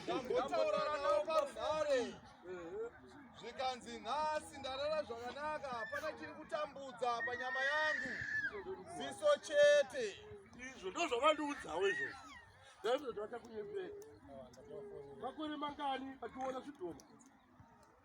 Ndambotaurana nawo parunhare zvikanzi nhasi ndarara zvakanaka hapana chiri kutambudza panyama yangu ziso chete izvo ndozvavandiudzawo izvozvo ndaizvozvatakunyepera makore mangani vachiona zvidhoma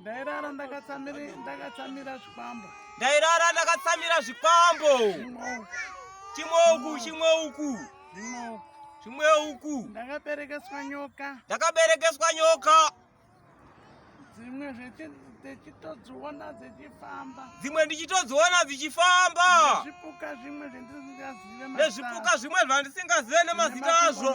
ndairara ndakatsamira zvikwambo ndairara ndakatsamira zvikwambo chimwe uku chimwe uku chimwe uku ndakaberekeswa nyoka ndakaberekeswa nyoka dzimwe dzechitodziona dzechifamba dzimwe ndichitodziona dzichifamba nezvipuka zvimwe zvandisingazive nezvipuka zvimwe zvandisingazive nemazita azvo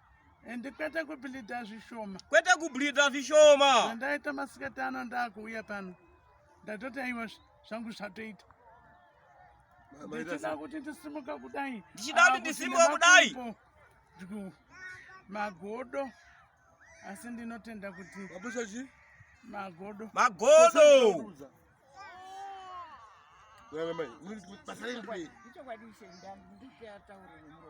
and kwete kubhilidha zvishoma kwete kubhilidha zvishoma zvandaita masikati ano ndakuuya pano ndatoti aiwa zvangu zvatoita ndichida kuti ndisimuka kudai ndichida kuti ndisimuka kudai magodo asi ndinotenda kuti magodo magodo basa riri pei ichokwadi ishe ndandikuataurire muro